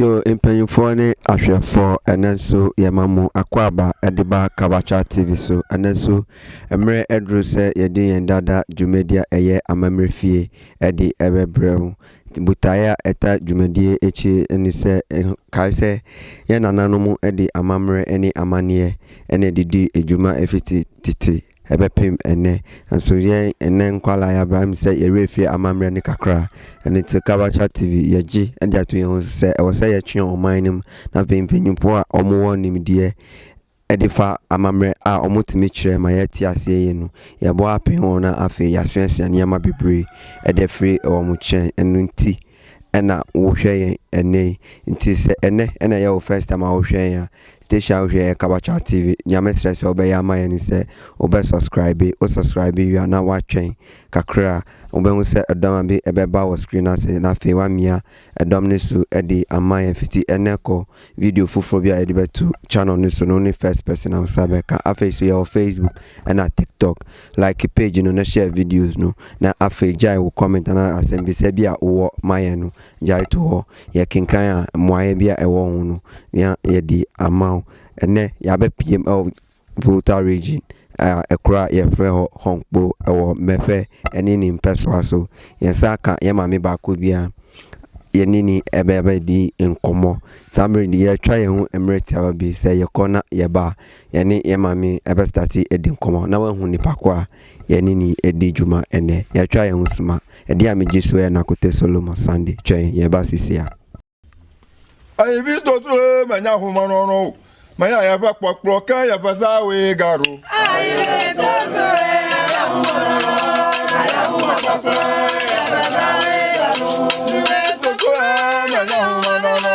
Yo mpanyinfoɔ ne ahwɛfoɔ ɛnɛ nso yɛma mo akwaaba ɛde ba Kabacha TV so. Ɛnɛ nso mmerɛ aduru sɛ yɛde yɛn dada dwumadi a ɛyɛ Amammerɛ Fie ɛde ɛbɛbrɛ wo. Botaeɛ a ɛta dwumadie akyi ɛne sɛ kae sɛ yɛn nananom ɛde amammerɛ ɛne amaneɛ ɛna ɛde di dwuma ɛfiti tete ɛbɛpem ɛnnɛ. Nanso yɛn ɛnnɛ nkwadaa a yɛabrɛ ahem sɛ yɛn werɛ firi amammerɛ no kakra. Ɛno nti Kabasha TV yɛgye de ato yɛn ho so sɛ ɛwɔ sɛ yɛtwe ɔman no mu na afei mpaninfoɔ a wɔwɔ nimdeɛ ɛde fa amammerɛ a wɔtumi kyerɛ ma yɛte aseɛ yie no yɛbɔ apem wɔn na afei yɛasuasua nneɛma bebree ɛde afiri wɔn nkyɛn. Ɛno nti. ɛna wohwɛ yɛn ɛnɛ yi nti sɛ ɛnɛ ɛna ɛyɛ wo first time a wohwɛ yɛn a station a wohwɛ yɛ Kabakyaaw TV nyame srɛ sɛ wobɛyɛ ama yɛn ne sɛ wobɛ subscribe wo subscribe wie a na woatwɛn kakra a wobɛhu sɛ ɛdɔm a bi ɛbɛba wɔ screen no ase na afei woamia ɛdɔm no su ɛde ama yɛn fiti ɛnɛ kɔ video foforɔ bi a yɛde bɛto channel no so no wone first person a wo sa bɛka afei so yɛwɔ Facebook ɛna TikTok Like page no na share videos no, na afei gyae wo comment anaa asɛmbisa bi a wowɔ ma yɛn no gyae to hɔ. Yɛkenkan a, mmuaeɛ bi a ɛwɔ ho no na yɛde ama wo. Ɛnnɛ, yɛabɛpiem wɔ Volta Region a ɛkuro a yɛfrɛ hɔ Honkpo wɔ Mɛfɛ ne ne mpɛsoa so. Yɛn nsa aka yɛn maame baako bi a yɛne ne ɛbɛba di nkɔmmɔ. Saa mmerɛ yi deɛ yɛatwa yɛn ho mmerɛ tiawa bi, sɛ yɛkɔ na yɛba a, Yɛne yɛn maame bɛ starte adi nkɔmmɔ na wahu nipa ko a yɛne no redi dwuma ɛnnɛ. Yɛatwa yɛn ho suma. Ɛdeɛ a megye so yɛ Nakote Solomon Sunday. Twɛn yɛn ba sisi a. Ayi bi to turo e ma nya homa no no ma ya ya fa kpɔ kplɔ kan ya fa sa we ga ro. Ayi bi to turo e ma nya homa no no ma ya homa kpɔ kplɔ ya fa sa we ga ro. Ayi bi to turo e ma nya homa no no.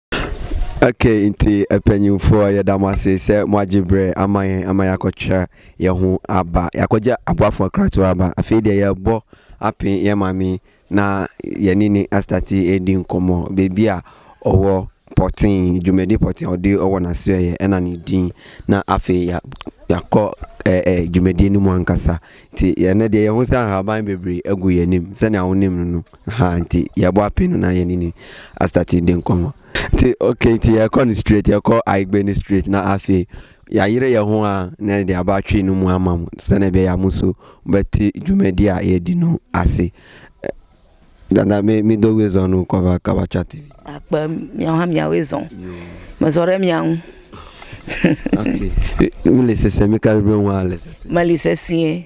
Ok nti mpanyinfoɔ yɛda mo ase sɛ mo agye berɛ ama yɛn ama yɛakɔtwerɛ yɛn ho aba yɛakɔgye aboafoɔ nkratoɔ aba afei deɛ yɛrebɔ apee yɛn maame na yɛne ne astate redi nkɔmmɔ baabi a ɔwɔ pɔtee dwumadi pɔtee a ɔde ɔwɔ n'asoɛeɛ ɛna ne din na afei ya yɛakɔ ɛɛ ɛɛ dwumadie no mu ankasa nti yɛn deɛ yɛn ho sɛ nhaban bebree agu yɛn anim sɛdeɛ wonim no no. Ahaa nti yɛbɔ apee no na yɛne no astate de nkɔmmɔ. Nti okay nti yɛkɔ no straight yɛkɔ Ayigbe no straight na afei yɛayere yɛn ho a na yɛde aba Twi no mu ama mo sɛdeɛ ɛbɛyɛ a mo nso mobɛte dwumadi a yɛdi no ase. Dada me me dɔ Wezon no kɔba kaba twa TV. Akpa mia ha mia Wezon. Me sɔre mia ho. Ati. Me lese se me karibe ho a lese se. Ma lese se.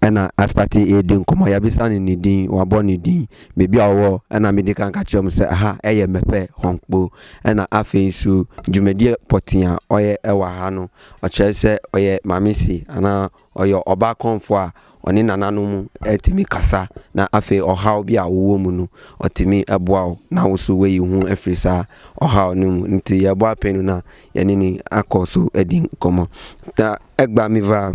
Ɛna asate redi nkɔmmɔ, yɛabisa no ne din, wabɔ ne din, baabi a ɔwɔ, ɛna mede kan ka kyerɛɛ wɔn sɛ ɛha yɛ Mɛpɛ, Hɔnkpo. Ɛna afei nso dwumadie pɔtee a ɔyɛ wɔ ha no, ɔkyerɛ sɛ ɔyɛ Maame Se anaa ɔyɛ ɔbaa kɔmfoɔ a ɔne nananom tumi kasa na afei ɔhaw bi a wowɔ mu no, ɔtumi boa wo na wo nso woayi wo ho afiri saa ɔhaw no mu. Nti yɛbɔ apɛn no na yɛne no akɔ so adi nkɔmmɔ. Ta Egba Miva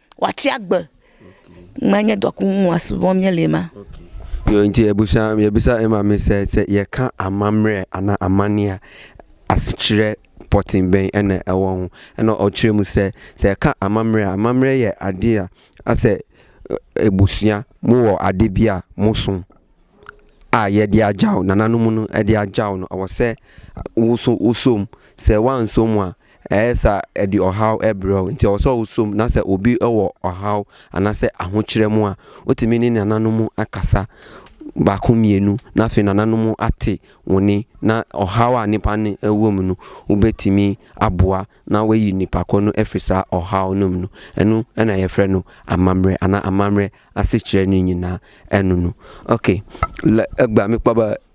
Wate agba ma nyɛ dɔko mu aso wɔn nyɛ lema. Yo nti abusua yɛbisa maame sɛ sɛ yɛka amammerɛ anaa amane a asekyerɛ pɔten bɛn ɛna ɛwɔ ho ɛna ɔkyerɛ mu sɛ sɛ ɛka amammerɛ a amammerɛ yɛ adeɛ a asɛ abusua mo wɔ ade bi a mo so a yɛde agyaw nananom no ɛde agyaw no ɛwɔ sɛ woso wosom sɛ wansom a Ɛyɛ saa a, ɛde ɔhaw brɛ wo. Enti ɛwɔ sɛ woso mu, na sɛ obi wɔ ɔhaw anaasɛ ahokyerɛ mu a, wotumi ne nananom akasa baako mmienu, na afei nananom ate wo nne, na ɔhaw a nipa no wɔ mu no, wobɛtumi aboa na wayi nipa ko no afiri saa ɔhaw no mu no. Ɛno na yɛfrɛ no amammerɛ anaa amammerɛ asekyerɛ no nyinaa ɛno no. Okay, la, agba mekpaba.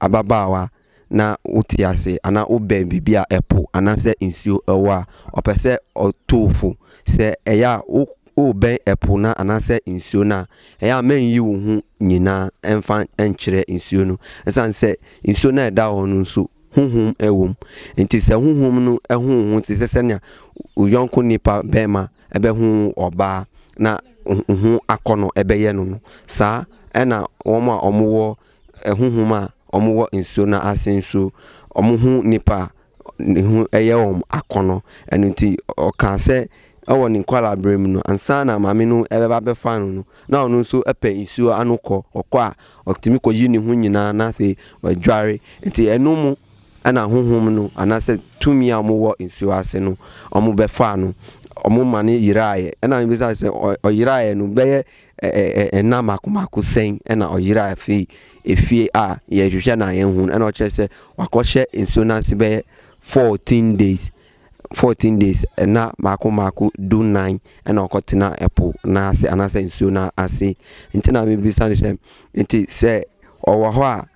ababaawa na wote ase anaa wobɛn biribi a ɛpo anaasɛ nsuo wɔ a, ɔpɛ sɛ ɔto wo fo. Sɛ ɛyɛ a wo wobɛn ɛpo no anaasɛ nsuo no a, ɛyɛ a mɛnyi wo ho nyinaa ɛmfa nkyerɛ nsuo no. Ɛsiane sɛ nsuo no a ɛda hɔ no nso honhom wɔ mu, nti sɛ honhom no ho wo ho te sɛ sɛnea wo yɔnko nipa bɛrima bɛho ɔbaa na ho akɔnnɔ bɛyɛ no no, saa na wɔn a wɔwɔ Ahunhum a wɔwɔ nsuo no ase nso, wɔhu nipa a ne ho yɛ wɔn akɔnnɔ. Ɛno nti, ɔkaa sɛ wɔ ne nkwadaa mu no, ansa na maame no bɛba abɛfa no no, na ɔno nso pɛ nsuo ano kɔ. Ɔkɔ a, ɔtumi kɔyi ne ho nyinaa na afei wadware. Nti ɛno mu na ahunhum no anaasɛ tumi a wɔwɔ nsuo ase no, wɔbɛfaa no. Wɔma no yeraeɛ. Ɛnna mebisaa sɛ, ɔyeraeɛ no bɛyɛ Nna mako mako sɛn na ɔyeraa afei efie a yɛhwehwɛ na yɛn ho ɛna ɔkyerɛ sɛ wakɔhyɛ nsuo n'ase bɛyɛ fourteen days fourteen days ɛna mako mako du nan ɛna ɔkɔtena ɛpo n'ase anaasɛ nsuo n'ase nti na mebisa no sɛ nti sɛ ɔwɔ hɔ a.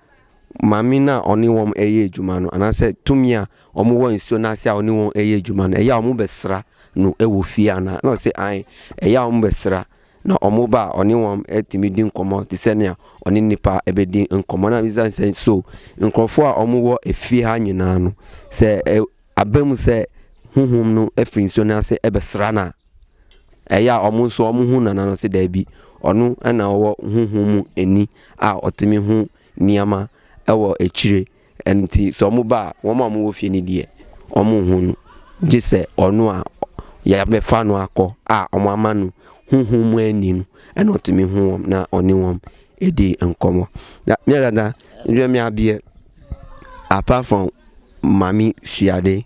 maame no a ɔne wɔn reyɛ adwuma no, anaasɛ tumi a wɔwɔ nsuo no ase a ɔne wɔn reyɛ adwuma no, ɛyɛ a wɔbɛsra no wɔ fie anaa? Na ɔsɛ ae, ɛyɛ a wɔbɛsra na wɔn ba a ɔne wɔn tumi di nkɔmmɔ te sɛ nea ɔne nnipa bɛdi nkɔmmɔ. Na bisa sɛ so nkurɔfoɔ a wɔwɔ efie ha nyinaa no, sɛ ɛ aba mu sɛ honhom no firi nsuo no ase bɛsra no a, Ɛyɛ a wɔn nso wɔhu nana no sɛ daabi, ɔno na ɔwɔ honhom mu ani a ɔtumi hu nneɛma wɔ akyire. Nti sɛ wɔn ba a, wɔn a wɔn wɔ fie no deɛ, wɔn nhu no. Gye sɛ ɔno a yɛabɛfa no akɔ a wɔn ama no honhom mu ani no, ɛna ɔtumi hu wɔn na ɔne wɔn di nkɔmɔ. Na me dada, ndwɛ me abeɛ, apart from mami siade.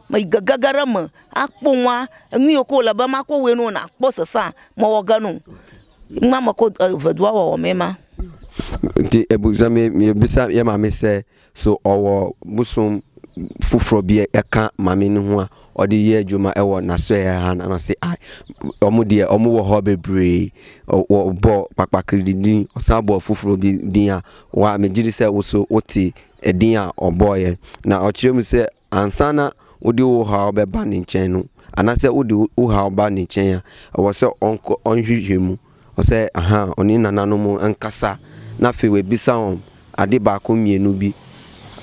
Ma iga gagara ma akpɔ ŋwa enu yio ke wole be makpɔ wɔe nuo nakpɔ sesea mewɔ ge no ma mekɔ eve dua wɔwɔ me ma. Nti ebusua mi yɛbisa yɛ maame sɛ so ɔwɔ bosom foforɔ bi ɛka maame no ho a ɔde yɛ adwuma ɛwɔ n'asɔɛ ha na ɔse a ɔmo deɛ ɔmo wɔ hɔ bebree ɔbɔ kpakpakiri de din ɔsan bɔ foforɔ bi din a wa megye di sɛ woso wote ɛdin a ɔbɔɔyɛ na ɔkyerɛ mu sɛ Ansa na wode wo haw bɛba ne nkyɛn no, anaasɛ wode wo haw ba ne nkyɛn a, ɛwɔ sɛ ɔnkɔ ɔnhwehwɛ mu. Ɛwɔ sɛ aha, ɔne nananom nkasa, na afei wabisa wɔn ade baako mmienu bi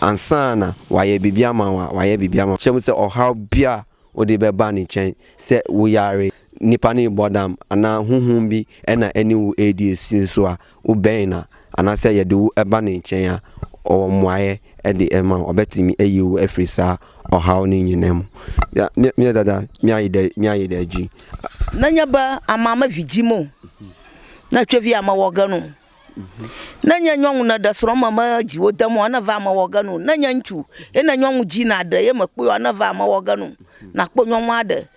ansa na wayɛ biribi ama wo a, wayɛ biribi ama wo. Hyɛ mu sɛ ɔhaw biara a wode bɛba ne nkyɛn, sɛ woyare, nnipa no rebɔ dam, anaa honhom bi na ɛne wo redi asi nso a, Wobɛn no a, anaasɛ yɛde wo ba ne nkyɛn a, ɔwɔ mmuaeɛ de rema wo. Ɔbɛtumi ayi wo afiri saa ɔhaw no nyinaa mu. Ya, me, me dada, me ayi da, me ayi da gyi. Na nya ba ama ama vigyi mo. Na twɛ vi ama wɔga no. Na nya nyɔnwo na da soro ama ma gyi wo da mo ana va ama wɔga no. Na nya ntu, e na nyɔnwo gyi na ada e ma kpo ana va ama wɔga no. Na kpo nyɔnwo ada,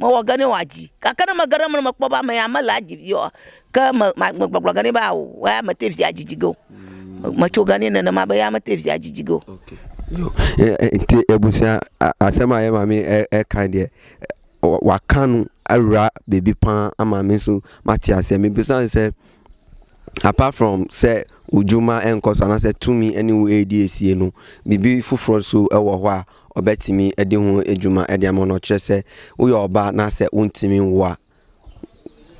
Mɔ wɔ gani wa ji. Ka kana ma gara muna ma kpɔ ba ma ya ma la ji yɔ ka ma ma ma gbɔgblɔ gani ba o wa ya ma te via ji ji go. Ma cho gani na na ma ba ya ma te via ji ji go. Nti ebusua asɛm a yɛ maame ɛka deɛ waka no awura baabi paa ama me nso mate aseɛ mebisa sɛ apart from sɛ odwuma ɛnkɔ so anaasɛ tumi ɛne wo ɛredi asie no biribi foforɔ nso ɛwɔ hɔ a ɔbɛtumi adi ho adwuma de ama no ɔkyerɛ sɛ woyɛ ɔbaa na sɛ wontumi nwo a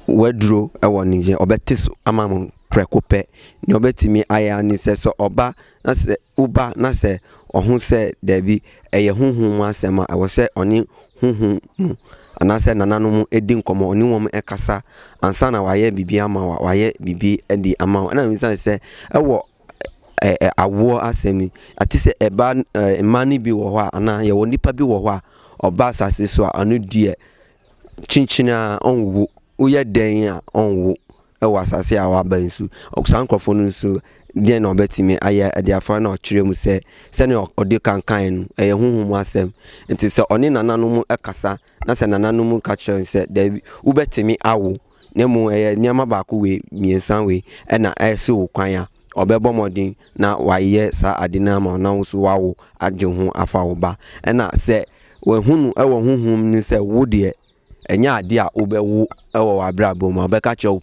waduro wɔ ne nkyɛn ɔbɛte so ama mo prɛko pɛ nea ɔbɛtumi ayɛ ani sɛ sɛ ɔba na sɛ woba na sɛ ɔho sɛ daabi ɛyɛ huhu mu asɛm a ɛwɔ sɛ ɔne huhu mu anaasɛ nananom di nkɔmmɔ ɔne wɔn ɛkasa ansa na wayɛ biribi ama wa wayɛ biribi adi ama wo ɛna ne sɛ ɛwɔ ɛ ɛ awoɔ asɛm yi. Te sɛ ɛbaa no ɛɛ mmaa no bi wɔ hɔ a anaa yɛwɔ nnipa bi wɔ hɔ a ɔba asase so a, ɔno deɛ, kyenkyen ara ɔnwo. Woyɛ dɛn a, ɔnwo wɔ asase a waba yi so. Saa nkurɔfoɔ no nso, deɛn na wɔbɛtumi ayɛ de afa na wɔakyerɛ mu sɛ sɛdeɛ ɔde kankaeɛ no, ɛyɛ honhom mu asɛm. Enti sɛ ɔne nananom kasa Na sɛ nananom ka kyerɛ no sɛ, Dabi, wobɛtumi awo, na mmom ɛyɛ nneɛma baako wei, mmiɛnsa wei na ɛsi wo kwan a, ɔbɛbɔ mmɔden na wayɛ saa ade no ama wo na wo nso woawo agye wo ho afa wo ba. Ɛna sɛ wahunu wɔ honhom mu sɛ wo deɛ, ɛnyɛ ade a wobɛwo wɔ w'abrabɔ mu a, ɔbɛka kyerɛ wo.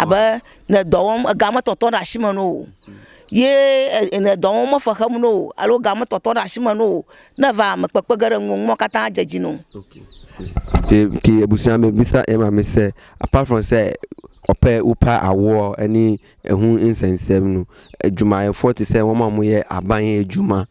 abe ne dɔ wɔm, ega me tɔtɔ ɖe asime na wò o, ye ne dɔ wɔm me fe xem na wò o, alo ega me tɔtɔ ɖe asime na wò o, ne eva me kpekpe ge ɖe ŋuwò, numawo katã adze edzi na wò. Te te ebusua me bisa ema me se apart from sɛ ɔpɛ wopa awoɔ ɛne ɛho nsɛnsɛm no adwumayɛfoɔ te sɛ wɔn a wɔyɛ aban adwuma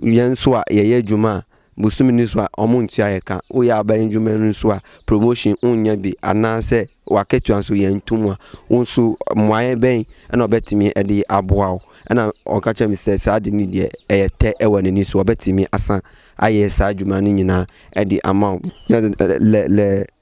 yɛn nso a yɛyɛ adwuma a Bosome no so a wɔntua yɛn ka, woyɛ aban adwuma no nso a promotion wonnya bi anaasɛ w'akatua nso yɛnto mu a, wo nso mmuaeɛ bɛn na ɔbɛtumi de aboa wo? Ɛna ɔka kyerɛ me sɛ saa ade no deɛ ɛyɛ tɛ wɔ n'ani so, ɔbɛtumi asan ayɛ saa adwuma no nyinaa de ama wo. Lɛ lɛ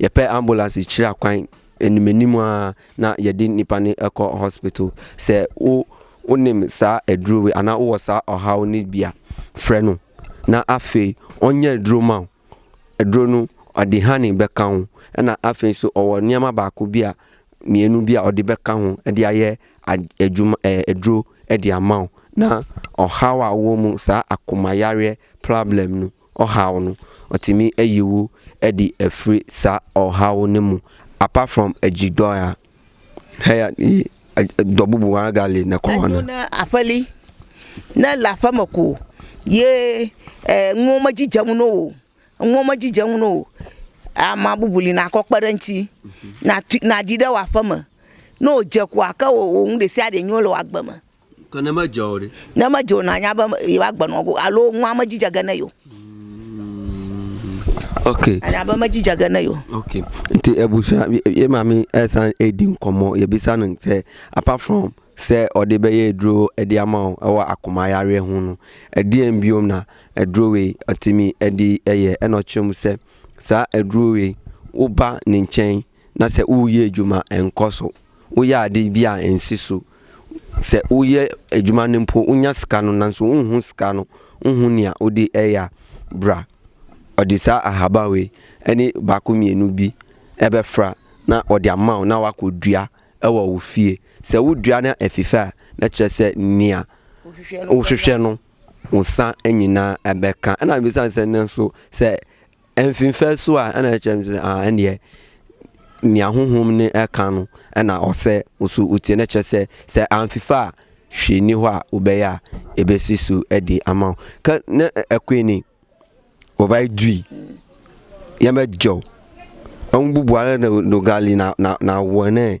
Yɛpɛ ambulance kyira kwan anim anim aa na yɛde nipa no ɛkɔ hospital. Sɛ wo wonim saa aduro wei anaa wowɔ saa ɔhaw no bi a, frɛ no na afei ɔnyɛ aduro ma wo. Aduro no ɔde honey bɛka ho ɛna afei nso ɔwɔ nneɛma baako bi a mmienu bi a ɔde bɛka ho de ayɛ adwuma ɛɛ aduro de ama wo na ɔhaw a wowɔ mu saa akomayareɛ problem no ɔhaw no, ɔtumi ayi wo adi afiri saa ɔhaw no mu apart from agyi dɔ a hɛya dɔ bubu wara gali na kɔɔ no. na afali na lafa mako ye nwoma gyigya mu no o nwoma gyigya mu no o ama bubuli na akɔkpara nti na na adi dɛ wafa mu na ɔgya ku aka o ohun de si ade nyolo agbama. Ka na ma jaw de. Na ma jaw na anya ba ba gba no go alo nwa ma jija gana yo. Okay. Anya ba ma jija gana yo. Okay. Nti ebusua ye ma mi esan edi nkomo ye bisa no sɛ apart from sɛ ɔde bɛyɛ aduro de ama wo ɛwɔ akoma yareɛ ho no ɛdeɛn biom na aduro wei ɔtumi de yɛ ɛna ɔkyerɛ mu sɛ saa aduro wei woba ne nkyɛn na sɛ woreyɛ adwuma a, ɛnkɔ so. Woyɛ ade bi a, ɛnsi so. Sɛ woyɛ adwuma no mpo, wonya sika no nanso wonhu sika no, wonhu nea wode reyɛ a, bra. Ɔde saa ahaban wei ne baako mmienu bi bɛfra na ɔde ama wo na wakɔdua wɔ wo fie. Sɛ wodua na ɛfi fɛ a, na kyerɛ sɛ nea wohwehwɛ no, wo nsa nyinaa bɛka. Ɛna mebisa no sɛ, nanso sɛ Mfimfɛ so a ɛna ɛkyerɛ sɛ ah ɛneɛ nea honhom ne ɛka no ɛna ɔsɛ nso wotie na ɛkyerɛ sɛ sɛ amfifa a hwee ni hɔ a wobɛyɛ a ɛbɛsi so ɛde ama wo ka ne ɛkwe ni wɔbae dui yɛmɛ gyaw ɔmbubu ara na dogali na na na wɔnɛ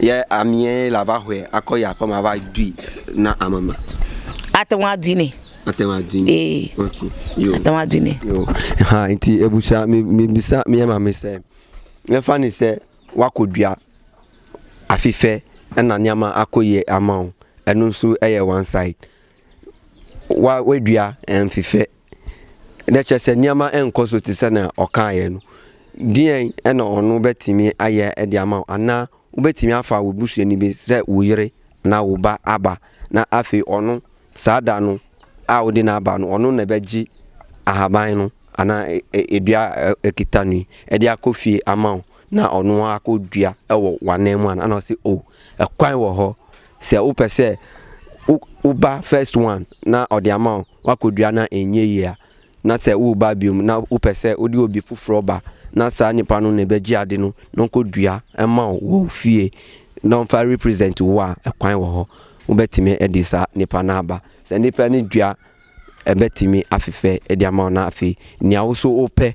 Yɛ amiɛ la va hɔɛ akɔ ya pɔ ma va dui na ame ma. Ate ŋu adui nɛ. Ate ŋu adui nɛ. Ee. Ok. Yo. Ate ŋu adui nɛ. Yo. Ha nti ebusua mi mi bisa mi yɛ maame sɛ yɛfa ne sɛ wakɔ dua afifɛ ɛna nneɛma akɔ yie ama wo ɛno nso ɛyɛ one side. wa wadua ɛmfefɛ na kyerɛ sɛ nneɛma nkɔ so te sɛ na ɔkaeɛ no deɛn ɛna ɔno bɛtumi ayɛ ɛde ama wo anaa wobɛtumi afa wo busuani bi sɛ wo yere na wo ba aba na afei ɔno saa da no a wode no aba no ɔno na ɛbɛgye ahaban no anaa e, e, edua ɛkita no yi ɛde akɔ fie ama wo na ɔno akɔdua ɛwɔ w'anan mu ana ɔse o oh, ɛkwan wɔ hɔ Sɛ wopɛ sɛ wo wo ba first one na ɔde ama wo, woakɔdua na ɛnyɛ yie a, na sɛ woreba biom na wopɛ sɛ wode obi foforɔ ba na saa nipa no na ɛbɛgye ade no na ɔnkɔdua ma wo wɔ wo fie na ɔmfa represent wo a, ɛkwan wɔ hɔ. Wobɛtumi de saa nipa no aba. Sɛ nipa no dua a, ɛbɛtumi afefɛ de ama wo na afei nea wo nso wopɛ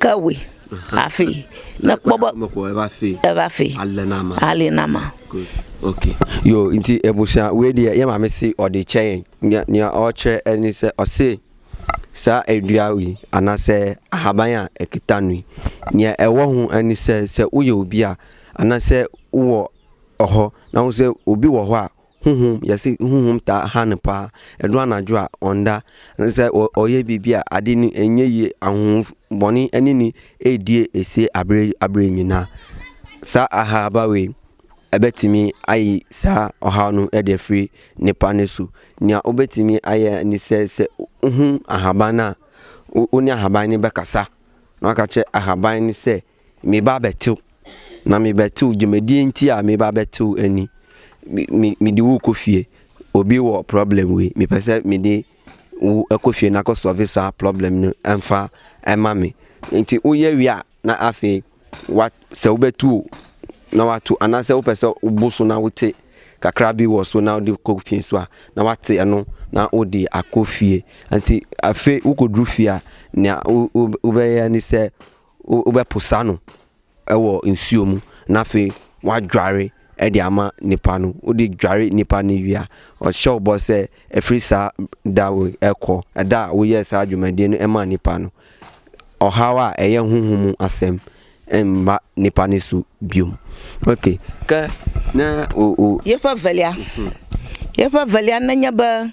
Kawe, afe, na kpɔbɔ, ɛbafe, alenama. ok yo nti abusua wei deɛ yɛ maame se ɔde kyɛ yɛn nea ɔkyerɛ ɛne sɛ ɔse saa adua yi anaasɛ ahaban a ɛkita no yi nea ɛwɔ ho ɛne sɛ sɛ woyɛ obi a anaasɛ wowɔ ɔhɔ na wo sɛ obi wɔ hɔ a honhom, yɛse honhom taa ha no paa, ɛno anadwo a ɔnda, ɛne sɛ ɔyɛ biribi a ade no ɛnyɛ yie, ahohombɔne ɛne ne ɛredie ɛsie aberɛ aberɛ nyinaa. Saa ahaaba wei ɛbɛtumi ayi saa ɔhaw no ɛde afiri nipa no so. Nea wobɛtumi ayɛ ne sɛ sɛ wohu ahaban no a, wo ne ahaban no bɛkasa na waka kyerɛ ahaban no sɛ Meba abɛtew, na mebɛtew dwumadie nti a meba abɛtew ni. Me mede wo rekɔ fie, obi wɔ problem wei, mepɛ sɛ mede wo kɔ fie na kɔ solve saa problem no mfa ma me. Nti woyɛ wie a na afei wa sɛ wobɛtu o na watu anaasɛ wopɛ sɛ wobo so na wote kakra bi wɔ so na wode kɔ fie nso a na wate ɛno na wode akɔ fie. Nti afei wokɔduru fie a nea wobɛyɛ ne sɛ Wobɛposa no wɔ nsuo mu na afei woadware de ama nipa no. Wode dware nipa no wie a, ɔhyɛ wo bɔ sɛ ɛfiri saa da wei rekɔ, ɛda a woyɛɛ saa dwumadie no maa nipa no, ɔhaw a ɛyɛ honhom mu asɛm mma nipa no so bio. Ok, kɛ na o o. Yefa valia. Yefa valia na nya ba.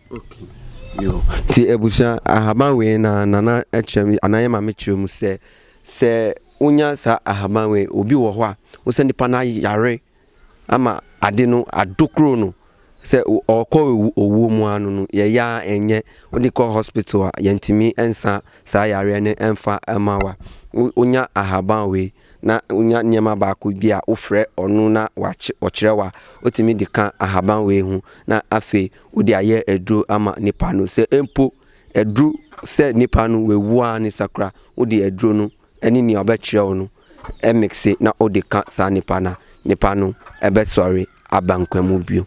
Nti abusua ahaban wei na nana kyerɛ me anaa yɛ maame kyerɛ mu sɛ sɛ wonya saa ahaban wei obi wɔ hɔ a wo sɛ nipa no ayare ama ade no adokoro no sɛ ɔkɔ owuo mu ano no yɛyɛ a ɛnyɛ wode kɔ hospital a yɛntumi nsa saa yareɛ no ɛmfa ɛma wa wonya ahaban wei na wonya nneɛma baako bi a wofrɛ ɔno na ɔkyerɛ wo a, wotumi de ka ahaban wei ho na afei wode ayɛ aduro ama nipa no. Sɛ mpo aduru sɛ nipa no wawu ara ne sakura, wode aduro no ne nea ɔbɛkyerɛ wo no mikse na wode ka saa nipa no a, nipa no bɛsɔre aba nkwa mu bio.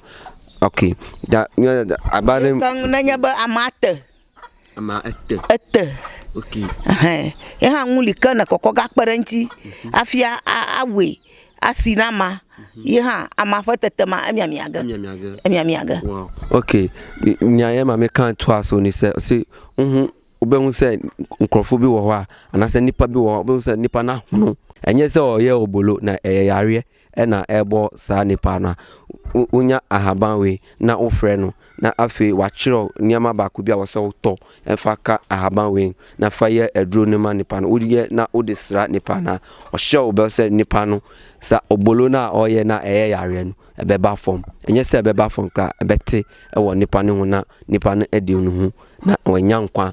Okay, da, da, da, abare. Kan na nya ba amata. Ama ɛtɛ. Ɛtɛ. Okay. Ɛhɛn. Ɛha ŋu lika na kɔkɔ ga kpe ɖe eŋuti hafi awɔe asi na ama. Mhm. Ye hã ama ƒe tete ma emiamia ge. Emiamia ge. Emiamia ge. Wow. Okay. Nya ye ma mi kan to aso ni se se uhu wobe ŋu se nkurɔfo bi wɔ hɔ a anaasɛ nipa bi wɔ hɔ wobe ŋu sɛ nipa na hono. Ɛnyɛ sɛ ɔyɛ obolo na ɛyɛ yareɛ na ɛrebɔ saa nipa no a, wonya ahaban wei na wofrɛ no na afei wakyerɛw nneɛma baako bi a wɔsɛ wotɔ fa ka ahaban wei na fa yɛ aduro no ma nipa no woyɛ na wode sra nipa no a, ɔhyɛ wo bɛ sɛ nipa no sa obolo no a ɔyɛ na ɛyɛ yareɛ no ɛbɛba fam. Ɛnyɛ sɛ ɛbɛba fam koraa ɛbɛte wɔ nipa no ho na nipa no adi ne ho na wanya nkwa.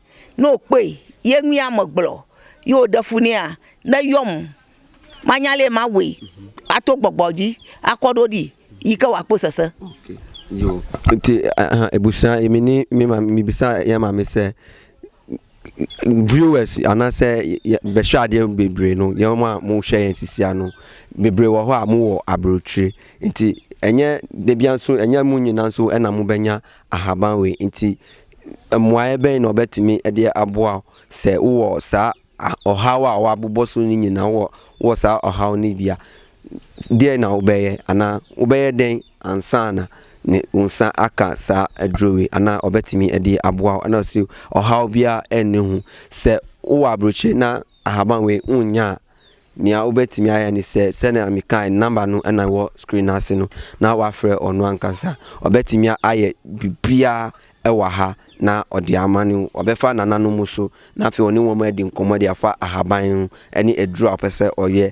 Na okpei ye nwian mo gblɔ ye o ɖefu nɛ a ne yɔm manya lɛ mawɔe ato gbɔgbɔ dzi akɔ ɖo ɖi yi ke wa kpo sese. Ok yo nti ahan ebusua emi ni mi ma mi bisa ya ma mi sɛ viewers ana sɛ bɛ hwɛ adeɛ bebree no yɛ mo a mo hwɛ yɛn sisia no bebree wɔ hɔ a mo wɔ abrokyire nti ɛnyɛ debia nso ɛnyɛ mo nyina nso ɛna mo bɛ nya. ahaban wei nti mmuaeɛ bɛn na ɔbɛtumi de aboa wo sɛ wowɔ saa ɔhaw a wɔabobɔ so no nyinaa wɔ wɔ saa ɔhaw no bia deɛ na wobɛyɛ anaa wobɛyɛ dɛn ansa na ne wo nsa aka saa aduro wei anaa ɔbɛtumi de aboa wo ɛna ɔsi ɔhaw biara ɛnne ho sɛ wowɔ aburokyire na ahaban wei wonnya a, nea wobɛtumi ayɛ ne sɛ, sɛnea mekae no, nɔmba no na ɛwɔ screen no ase no, na woafrɛ ɔno ankasa. Ɔbɛtumi ayɛ biribiara wɔ ha na ɔde ama no. Ɔbɛfa nananom so, na afei ɔne wɔn adi nkɔmmɔ de afa ahaban ho ne aduru a ɔpɛ sɛ ɔyɛ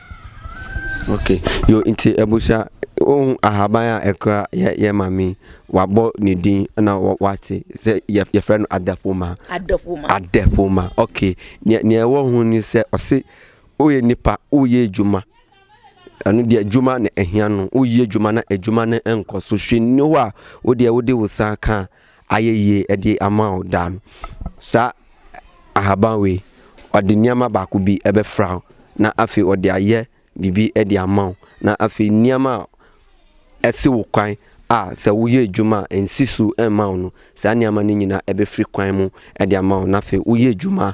Okay, yo nti abusua ohun ahaban a ɛkra yɛ yɛ maame wabɔ ne din na wate sɛ yɛ yɛfrɛ no adapoma. Adapoma. Adapoma. Okay, nea nea ɛwɔ ho ni sɛ ɔse woyɛ nipa woyɛ adwuma ɛno deɛ adwuma na ɛhia no woyɛ adwuma na adwuma no nkɔ so hwɛ nni hɔ a wodeɛ wode wo sa ka a. Ayɛ yie ɛde ama wo daa no. Saa ahaban wei, ɔde nneɛma baako bi ɛbɛfra wo na afei ɔde ayɛ biribi ɛde ama wo. Na afei nneɛma a ɛsi wo kwan a sɛ woyɛ adwuma a ɛnsi so ɛmma wo no, saa nneɛma no nyinaa ɛbɛfiri kwan mu ɛde ama wo. Na afei woyɛ adwuma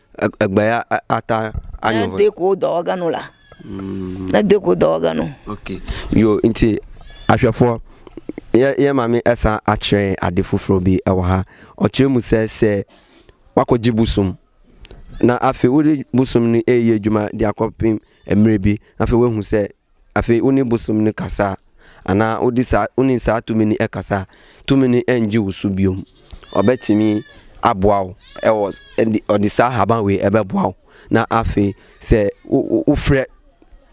Egbe ya ata anyo. Na de ko dɔ ɔga no la. Mm. Na de ko dɔ ɔga no. Okay. Yo nti ahwɛfoɔ yɛ yɛ maame ɛsan akyerɛ ade foforɔ bi ɛwɔ ha. Ɔkyerɛ mu sɛ sɛ wakɔgye bosom na afei wode bosom no ɛyɛ adwuma de akɔpem mmerɛ bi afei wahu sɛ Afei wo ne bosom no kasa a, anaa wode saa, wo ne saa tumi no kasa a, tumi no rennye wo so biom. Ɔbɛtumi aboa wo wɔ, ɔde saa ahaban wei ɛbɛboa wo. Na afei sɛ wofrɛ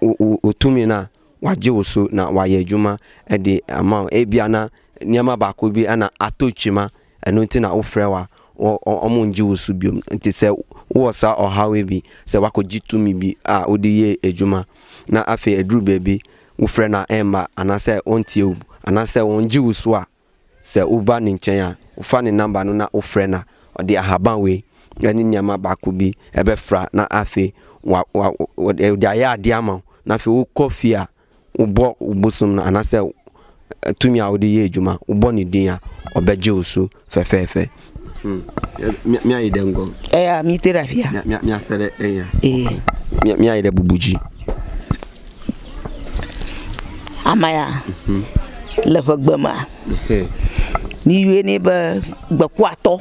wo tumi no a, wagye wo so na wayɛ adwuma de ama wo. Ebia na nneɛma baako bi na atɔ kyima Ɛno nti na wofrɛ wa wɔ wɔn ngye wo so biom nti sɛ wowɔ saa ɔhaw yi bi sɛ wakɔ gye tumi bi a wode yɛ adwuma na afei aduru baabi wofrɛ no a ɛmma anaasɛ wɔntie wo anaasɛ wɔn gye wo so a sɛ woba ne nkyɛn a wofa ne number no na wofrɛ no a ɔde ahaban wei ɛne nneɛma baako bi ɛbɛfra na afei wa wa wɔde ayɛ adeɛ ama wo na afei wokɔ fie a wobɔ wo bosom no anaasɛ tumi a wode yɛ adwuma, wobɔ ne din a, ɔbɛgye wo so fɛfɛɛfɛ. Hmm. Mi ayi dɛ ngɔ. Ɛyà mi te da fia. Mi mi asɛ dɛ ɛnya. Ee. Mi mi ayi dɛ bubuji. Amaya. Mhm. Le ƒe gbe ma. Mi yue ne be gbekuatɔ.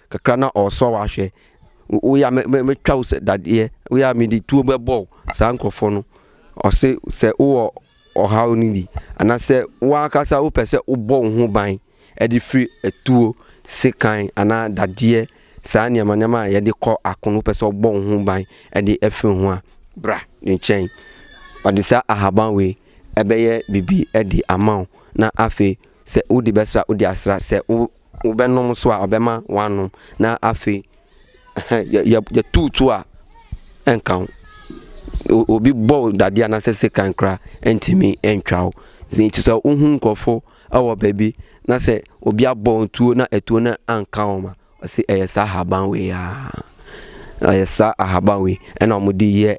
Kakra na ɔresɔ wo ahwɛ. Wo yɛ a mɛtwa wo sɛ dadeɛ. Wo yɛ a mede tuo bɛbɔ wo. Saa nkurɔfoɔ no, ɔse sɛ wowɔ ɔhaw no bi, anaasɛ wo ankasa wopɛ sɛ wobɔ wo ho ban de firi atuo, sekan anaa dadeɛ, saa nneɛma nneɛma a yɛde kɔ ako no, wopɛ sɛ wobɔ wo ho ban de afiri ho a, bra ne nkyɛn. Ɔde saa ahaban wei ɛbɛyɛ biribi de ama wo, na afei sɛ wode bɛsra wode asra. Sɛ wo. Wobɛnom nso a, ɔbɛma woanom, na afei yɛtuutu a, ɛnka wo. Obi bɔ wo dadeɛ anaasɛ sekan koraa ɛntumi ntwa wo. Nti sɛ wohu nkurɔfo wɔ baabi na sɛ obi abɔ wo tuo na atuo no anka wo ma, ɔse ɛyɛ saa ahaban wei a, ɛyɛ saa ahaban wei ɛna wɔde yɛ.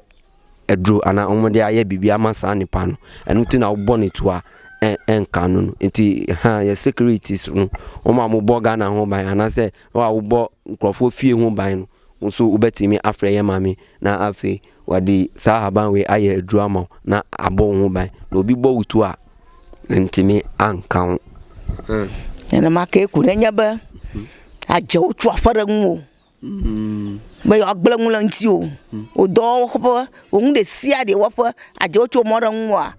aduro anaa wɔn de ayɛ biribi ama saa nipa no ɛno ti na wobɔ ne tua ɛnka no no nti ha yɛ securities no wɔn a wɔbɔ ghana ho ban anaasɛ wɔn a wɔbɔ nkurɔfoɔ fie ho ban no nso wobɛtumi afrɛ yɛ maame na afei wɔde saa ahaban wei ayɛ aduro ama wo na abɔ wo ho ban na obi bɔ wo tu a ntumi anka ho ɛnam aka eku na nyɛ bɛ agyɛ wotu afɔre mu o Bɛyɛ ɔgbla nwula nti o, ɔdɔ wɔ hɔ papa, wɔn de si adeɛ wɔ hɔ, agya ɔtwi wɔn ara nwua,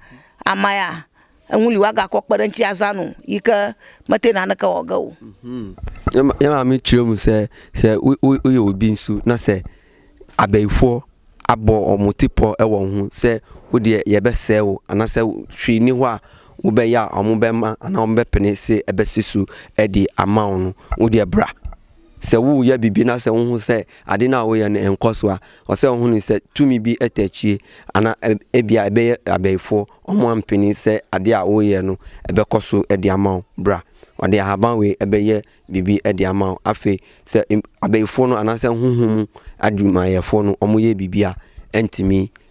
ama ya nwuli wa ga kɔ kpɛrɛ nti aza no yi kɛ mɛte na ne kɛ ɔga o. Yɛ maame kyerɛ mu sɛ sɛ woyɛ obi nso na sɛ abɛyifoɔ abɔ wɔn ti pɔ wɔ wɔn ho sɛ wodeɛ yɛbɛsɛe wo anaasɛ hwee ni hɔ a wobɛyɛ a wɔbɛma anaa wɔbɛpene se ɛbɛse so de ama wo no, wodeɛ bra. Sɛ woreyɛ biribi na sɛ wuhu sɛ ade no a woreyɛ no nkɔ so a, ɔsɛ sɛ wuhu no sɛ tumi bi te akyiri anaa ebia ɛbɛyɛ abayifo wɔn ampene sɛ ade a woreyɛ no bɛkɔ so de ama wo. Bra, wɔde ahaban wei bɛyɛ biribi de ama wo. Afei, sɛ abayifo no anaasɛ honhom mu adwumayɛfo no yɛ biribi a ɛntumi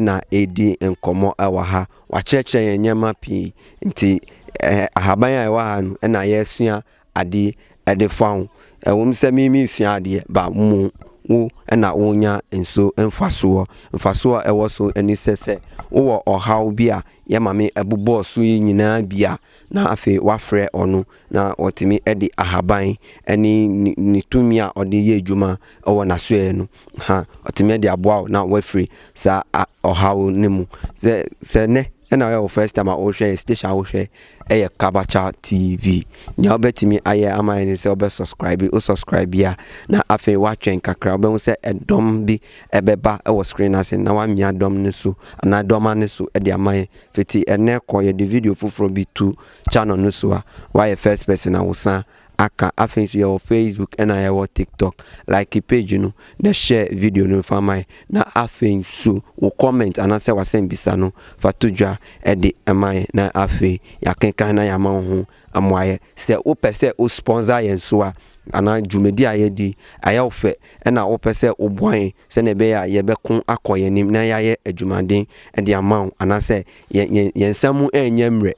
na ɛredi nkɔmmɔ wɔ ha. Wɔakyerɛkyerɛ yɛn nneɛma pii. Nti ɛɛ ahaban a ɛwɔ ha no na yɛresua adeɛ de fa ho. Ɛwom sɛ me meresua adeɛ but mo wo na worenya nso mfasoɔ. Mfasoɔ a ɛwɔ so ne sɛ sɛ wowɔ ɔhaw bi a yɛ Maame bobɔɔ so yi nyinaa bi a, na afei woafrɛ ɔno na ɔtumi de ahaban ne ne ne tumi a ɔde yɛ adwuma wɔ n'asoɛeɛ no ha ɔtumi de aboa wo na wafiri saa ɔhaw no mu sɛ sɛ nnɛ ɛna ɔyɛ wo first time a wohwɛ yɛ station a wohwɛ ɛyɛ kabacha tv nea wobɛtumi ayɛ ama yɛ ne sɛ wobɛ subscribe wo subscribe bia na afei woatwɛn kakra wobɛhu sɛ ɛdɔm bi ɛbɛba ɛwɔ screen ase na woamia dɔm no so anaa dɔma no so ɛde ama yɛ fiti ɛnɛ kɔ yɛde video foforɔ bi tu channel no so a woayɛ first person a wosan aka afei nso yɛwɔ facebook ɛna yɛwɔ tiktok like page no na share video no fa mae na afei nso wo comment anaasɛ wasɛmbisa no fa to dwa ɛde ɛma yɛn na afei yɛakenkan na yɛama wo ho amoayɛ sɛ wopɛ sɛ wo sponsor yɛn so a anaa dwumadi a yɛdi ayɛ wo fɛ ɛna wopɛ sɛ woboa yɛn sɛnea ɛbɛyɛ a yɛbɛko akɔ yɛn anim na yɛayɛ adwumaden ɛde ama wo anaasɛ yɛn yɛn yɛn nsa mu ɛnyɛ mmerɛ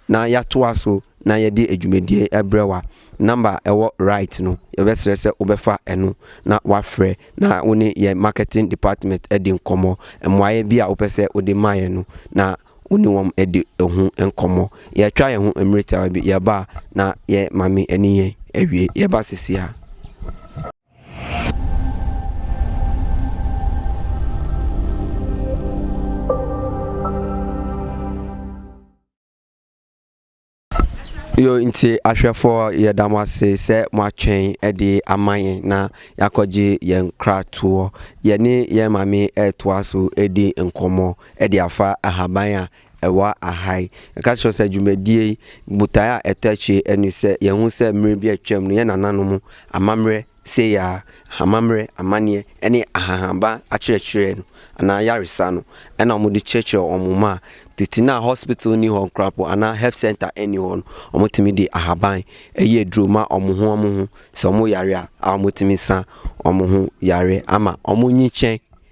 Na yɛatoa so na yɛde adwumadie yi ɛbrɛ wo a, number a ɛwɔ right no, yɛbɛsrɛ sɛ wobɛfa ɛno na wafrɛ na wo ne yɛn marketing department adi nkɔmmɔ. Mmuaeɛ bi a wopɛ sɛ wode ma yɛn no, na wo ne wɔn adi ho nkɔmmɔ. Yɛatwa yɛn ho mmere tiawa bi, yɛba a na yɛn maame ne yɛn awie, yɛba seesei a. yo nti ahwɛfoɔ yɛda mo ase sɛ moatwɛn de ama yɛn na yɛakɔgye yɛn kratoɔ yɛne yɛn maame ɛretoa so ɛdi nkɔmmɔ ɛde afa ahaban a Ɛwɔ ha yi, yɛka kyerɛ wo sɛ dwumadie yi botaeɛ a ɛtɔ akyire ne sɛ yɛhu sɛ mmerɛ bi a atwam no yɛn nananom amammerɛ sei ara, amammerɛ, amanneɛ ne ahahanba akyerɛkyerɛ no anaa ayaresa no na wɔde kyerɛkyerɛ wɔn mma a tete no a hospital nni hɔ koraa mpo anaa health centre nni hɔ no wɔtumi de ahaban yɛ aduro ma wɔn ho wɔn ho sɛ wɔyare a wɔtumi sa wɔn ho yareɛ ama wɔnyikyɛn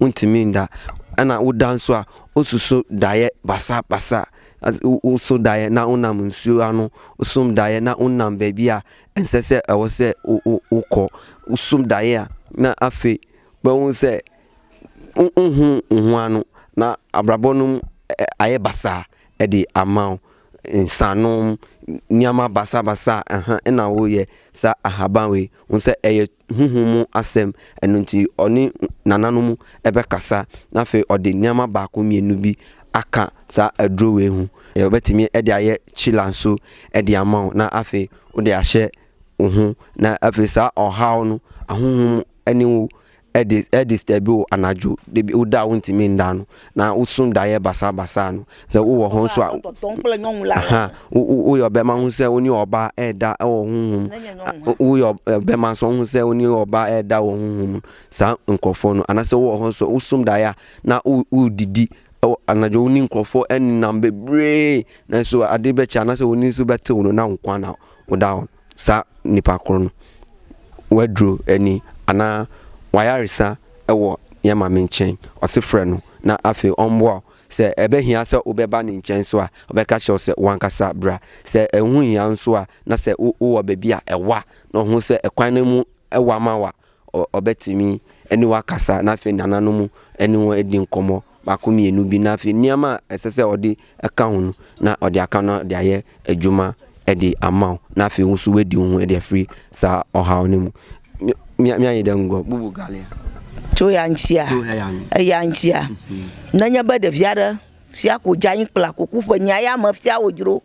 Wontumi nda, nna woda nso a, woso so daeɛ basabasa. Woso daeɛ na wonam nsuo ano, wosom daeɛ na wonam baabi a ɛnsɛ sɛ ɛwɔ sɛ wokɔ, wosom daeɛ a na afei wobɛhu sɛ wonhu wo ho ano na abrabɔ no mu ayɛ basaa de ama wo. Nsanom, nneɛma basabasa, ɛha na woyɛ saa ahaban wei, wohu sɛ ɛyɛ. honhom mu asɛm, ɛno nti ɔne nananom bɛkasa, na afei ɔde nneɛma baako mmienu bi aka saa aduro wei ho. Ɔbɛtumi de ayɛ kyila nso de ama wo, na afei wode ahyɛ wo ho, na afei saa ɔhaw no, ahonhom ne wo ɛde ɛdisitɛbi wo anadwo, ebi woda a wontumi nda no, Na wo sum daeɛ basaabasaa no, sɛ wo wɔ hɔ nso a, wo yɛ ɔbɛma ho sɛ wo ne ɔbaa ɛɛda wɔ honhom, wo yɛ ɔbɛma nso ho sɛ wo ne ɔbaa ɛɛda wɔ honhom, saa nkorɔfoɔ no, anasɛ wo wɔ hɔ nso wo sum daeɛ a, na wo didi anadwo wo ne nkorɔfoɔ ɛnenam bebree, nanso adeɛ bɛkye anasɛ wo ani nso bɛtew no, na wo nkoaa na wo da hɔ no. saa nipa koro no w'aduro ani anaa w'ayaresa wɔ yɛn Maame nkyɛn, ɔse frɛ no na afei ɔmmoa wo. Sɛ ɛbɛhia sɛ wobɛba ne nkyɛn nso a, ɔbɛka kyerɛ wo sɛ w'ankasa bra. Sɛ ɛho hia nso a, na sɛ wowɔ baabi a ɛwa na ɔho sɛ ɛkwan no mu wa ma wo a, Ɔbɛtumi ne wo akasa, na afei nananom ne wo adi nkɔmmɔ baako mmienu bi, na afei nneɛma a ɛsɛ sɛ ɔde ka ho no, na ɔde aka no de ayɛ adwuma de ama wo, na afei wo nso woadi wo ho de afiri saa ɔhaw no mu. Mianyi dɛ ngɔ bubu galia. Tso ya ŋtsia, eya ŋtsia, nenye be ɖevi aɖe fia ko dze anyi kpla ko ku ƒe nyi aya me fia wòdzro.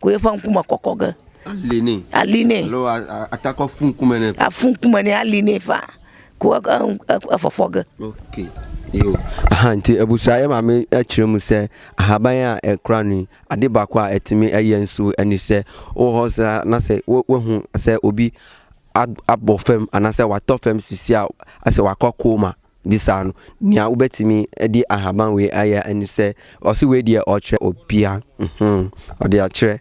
koye fa nkume kɔkɔ ge. Aline. Aline. Alo atakɔ fun kume ne. Afun kume ne aline fa ko afɔfɔ ge. Okay. Yo. Aha nti abusua yɛ maame akyerɛ mu sɛ ahaban a ɛkora no ade baako a ɛtumi ɛyɛ nso ɛne sɛ wɔ hɔ saa na sɛ wahu sɛ obi abɔ fam anaasɛ watɔ fam sisi a asɛ wakɔ koma. Bisaa no nea wobɛtumi de ahaban wei ayɛ ɛne sɛ ɔse wei deɛ ɔkyerɛ obia hmm ɔde akyerɛ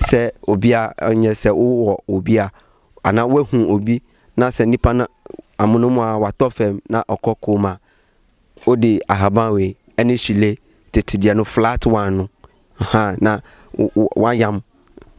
sɛ obia nyɛ sɛ wo wɔ obi a anaa wahu obi na sɛ nipa no amono mu a watɔ fam na ɔkɔ coma wode ahaban wei ɛne shile tete deɛ no flat one no Aha, na wayam,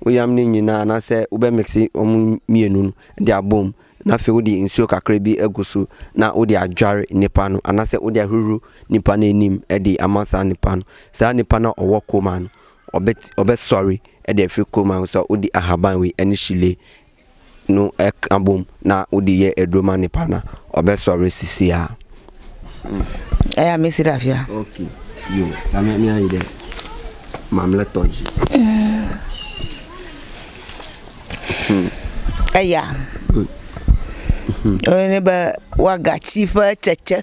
woyam ne nyinaa anaasɛ wobɛ mixi wɔn mmienu no de abɔ mu na afei wode nsuo kakra bi agu so na wode adware nipa no anaasɛ wode ahuru nipa no anim de ama saa nipa no. Saa nipa no a ɔwɔ koma no, ɔbɛ ɔbɛsɔre de afiri koma no so a wode ahaban wei ne hyile no ka bom na wode yɛ aduro ma nipa na ɔbɛsɔre sisi a. Ɛyɛ a mesi dafia. Ok, yo, na me me ayi dɛ. Mamlɛ tɔji. Ɛyɛ a. Good. Ɔyɛ ne bɛ waga chifa kyɛkyɛ.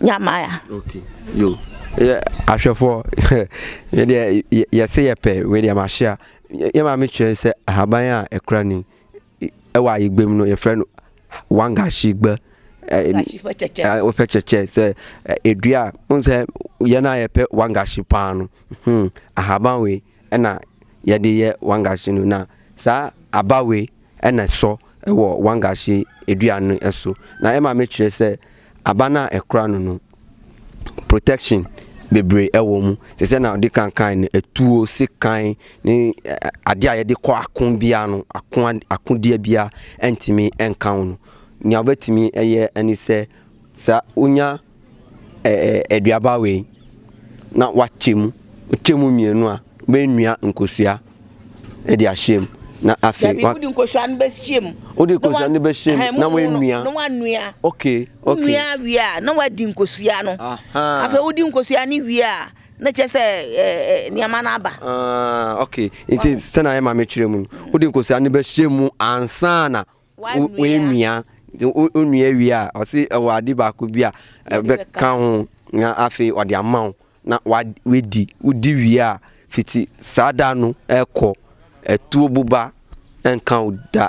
Nyamaya. yɛ ahwɛfoɔ yɛdeɛ yɛse yɛpɛ wei deɛ mahyia yɛ maame kyerɛ sɛ ahaban a ɛkora ni ɛwɔ ayigbe mu no yɛfrɛ no wangahyigba wopɛ kyɛkyɛ sɛ ɛdua a wohu sɛ yɛn a yɛpɛ wangahye paa no hmm, ahaban wei na yɛde yɛ wangahye no na saa aba wei na ɛsɔ wɔ wangahye aduane no so na ɛma mekyerɛ sɛ aba no a ɛkora no no protection bebree ɛwɔ mu te sɛ na ɔde kankan no atuo sekan ne adeɛ a yɛde kɔ ako biara no ako akodeɛ biara ɛntumi ɛnka ho no nea wobɛtumi ɛyɛ ɛne sɛ saa wonya ɛɛ aduaba wei na wakyɛ mu. Wokyɛ mu mmienu a, wobɛnua nkosua de ahyɛ mu. Na afei wa. Wode nkosua no bɛhyɛ mu. Wode nkosua no bɛhyɛ mu na wanua. Na wanua. Okay, okay. Wonua wie a, na wadi nkosua no. Afei wodi nkosua no wie a, na kyerɛ sɛ ɛɛ nneɛma no aba. Ah, okay. Nti sɛ na ayɛ ma mekyerɛ mu no. Wode nkosua no bɛhyɛ mu ansa na woanua onua wie a ɔse ɛwɔ ade baako bi a ɛbɛka ho na afei ɔde ama wo na wadi wodi wie a fiti saa da no ɛkɔ ɛtuo boba ɛnka wo da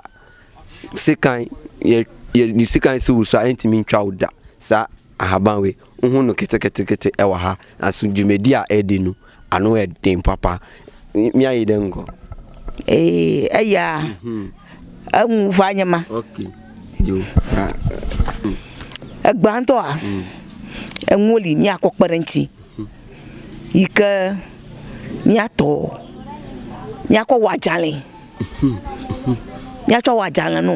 sekan yɛ yɛ sekan si wo so a ɛntumi ntwa wo da saa Ahaban wei wohu no ketekete wɔ ha nanso dwumadi a ɛdi no ano yɛ den papa mi ayi dɛ nkɔ. Ee ɛyɛ a ɛmu mhm. hɔ anyɛ ma. Ɛgbantɔ a ɛnwoli mi akɔ kpɛrɛ nti yi kɛ mi atɔ mi akɔ wɔ agyalen mi atɔ wɔ agyalen no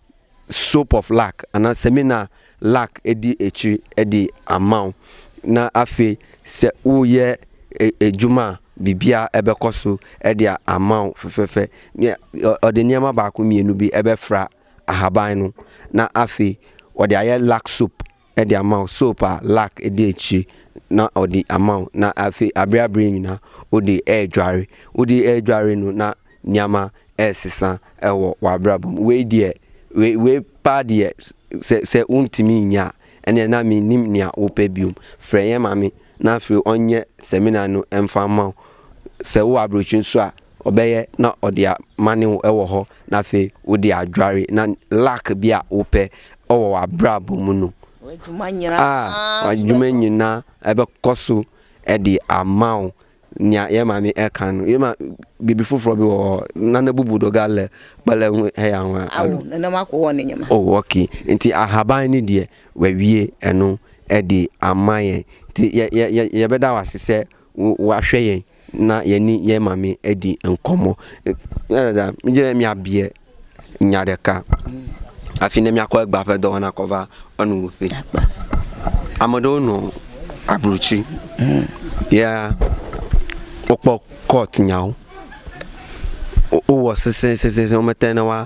soap of luck anaa seminar luck di akyiri de ama wo na afei sɛ woyɛ adwuma a biribiara ɛbɛkɔ so de ama wo fɛfɛɛfɛ ne ɔde nneɛma baako mmienu bi ɛbɛfra ahaban no na afei ɔde ayɛ luck soap de ama wo soap a lack di akyire na ɔde ama wo na afei abere abere nyina wo de ɛredware wo de ɛredware no na nneɛma ɛresesa wɔ w'abrabɔ mu wei deɛ wei wei paa deɛ sɛ sɛ wontumi nyɛ a ɛnna na mennim nea wopɛ biom frɛ yɛn maame na afei ɔnyɛ seminar no mfa ma wo sɛ wowɔ aburokyire nso a Ɔbɛyɛ na ɔde amane wo wɔ hɔ na afei wode adware na luck bi a wopɛ wɔ w'abrabɔ mu no a w'adwuma nyinaa ɛbɛkɔ so de ama wo. Nea yɛn maame ɛka no yɛn ma bibi foforɔ bi wɔ hɔ na na bubu do ga lɛ kpɛlɛ ho ɛyɛ ahoa. Awo na nam akɔ hɔ ne nyɛma. Oh okay nti ahaban ne deɛ w'awie ɛno ɛde ama yɛn nti yɛ yɛ yɛbɛda w'ase sɛ W'ahwɛ yɛn na yɛne yɛn maame adi nkɔmmɔ. Dada, megyina mi abeɛ nya dɛka. Afi na mi akɔ agba pɛ dɔɔ na kɔva ɔno wo pe. Amado no aburuchi. Ya okpɔ court nyawo. Owɔ sese sese sese ɔmɛtɛn na wa.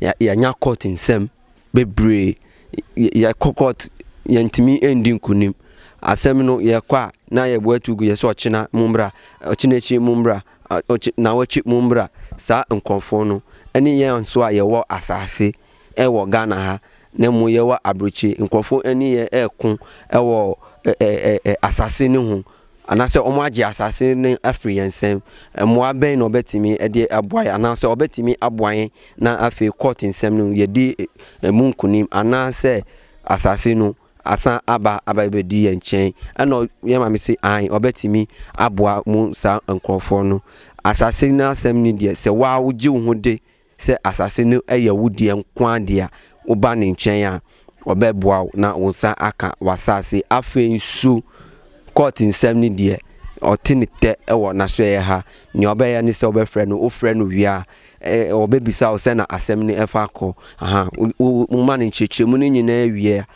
Yɛanya court nsɛm bebree, yɛkɔ court yɛntumi ndi nkunim. Asɛm no yɛkɔ a na yɛbɔ atu gu, yɛse ɔkyena mommra, ɔkyena akyiri mommra, naawɔtwe mommra. Saa nkorɔfoɔ no ne yɛn nso a yɛwɔ asaase wɔ Ghana ha na mmom yɛwɔ aburokyire. Nkorɔfoɔ ne yɛn reko wɔ asaase no ho. Anaasɛ wɔagye asase no afiri yɛn nsam. Mmoa bɛn na ɔbɛtumi de aboa yɛn? Anaasɛ ɔbɛtumi aboa yɛn na afei kɔɔt nsɛm no mu yɛadi ɛmu nkonim? Anaasɛ asase no asan aba abɛdi yɛn nkyɛn? Ɛna yɛn maame se aane ɔbɛtumi aboa mo saa nkurɔfoɔ no. Asase no asɛm no deɛ sɛ woa wogye wo ho de Sɛ asase no yɛ wo deɛ nko ara deɛ a, woba ne nkyɛn a, ɔbɛboa wo na wo nsa aka w'asase. Afei nso, kɔɔt nsɛm no deɛ, ɔte ne tɛ wɔ n'asoɛeɛ ha. Deɛ wobɛyɛ ne sɛ wobɛfrɛ no. Wofrɛ no wie a, ɔbɛbisa wo sɛ na asɛm no fa kɔ. Aha, wo, wo, woma no nkyerɛkyerɛmu no nyinaa wie a,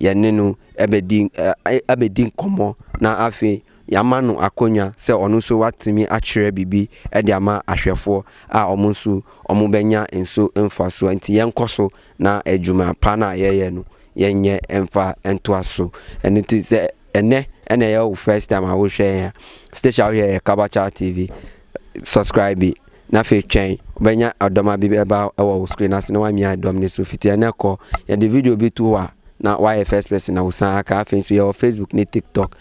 yɛne no abɛdi abɛdi nkɔmmɔ na afei yɛama no akonnwa sɛ ɔno nso watumi akyerɛ biribi de ama ahwɛfoɔ a wɔn nso wɔbɛnya nso mfasoɔ. Nti yɛnkɔ so na adwuma pa no a yɛyɛ no yɛnyɛ mfa ntoa so. Ɛno nti sɛ ɛnɛ ɛna ɛyɛ wo first time a wohwɛ yɛn a, station a wohwɛ yɛ Kabakya TV. Subscribe na afei twɛn wobɛnya ɔdɔma bi ɛba ɛwɔ wo screen ase na wamia dɔm ne so fiti ɛnɛ kɔ yɛde video bi to hɔ a na wayɛ first person na wosan aka afei nso yɛwɔ Facebook ne TikTok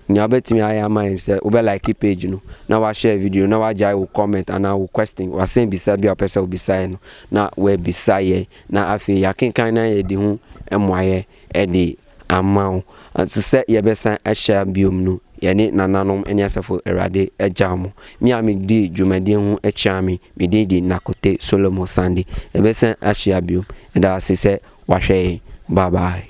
nea wobɛtumi ayɛ ama yɛn sɛ wobɛ like page no na wahyɛ video na wagyae wo comment anaa wo question wasɛn bisa bi a wopɛ sɛ wobisa yɛn no na wabisa yɛn na afei yɛakenkan na yɛde ho mmoayɛ ɛde Ama wo. Nso sɛ yɛbɛsan ahyia bio no, yɛne nananom ne asafo Awurade agyaw mo. Me a midii dwumadi ho akyia me, me din de Nakote Solomon Sande. Yɛbɛsan ahyia bio. Yɛda wo ase sɛ woahwɛ yɛn. Bye bye.